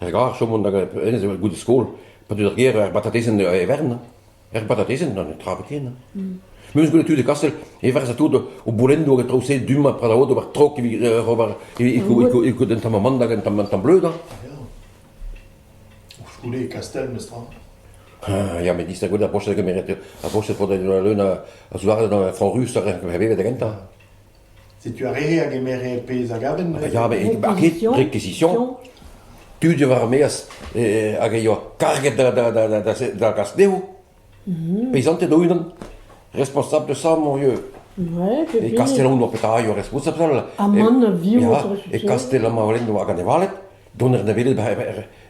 Er garr 'chom mont da hennezh goude skol, pa deu d'ar gêr er batatezenn e vern, er batatezenn, na netra ken. Memes goude tu de Kastel, evarz tout o boulendoù hag e traoù-se du-mañ prad aod ober trok evit ober evit un tamm amand hag un tamm bleud. Koulskoude e Kastel, mestrez. Ah, ya, met distag gwelet ar broched a gemeret, ar broched fod en ul leun a zoudarded gant a frañs rus hag a vevet da gentañ. Setu ar re a gemere pezh a gaven neuze. Ya, met n'int ket ket rekizision. Tud war-maez hag a yoa karget da, da, da, da, da gas dezho. Peizanted o-unan. Responsabl de ça, mon vieux. Ouais, c'est E fini. Kastellaun oa petra eo responsabl. Aman, a viv Ya, autre E chose. Kastella ma olen oa ganevaled. Doner neveled ba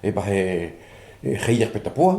e ba e e c'heier peta poa.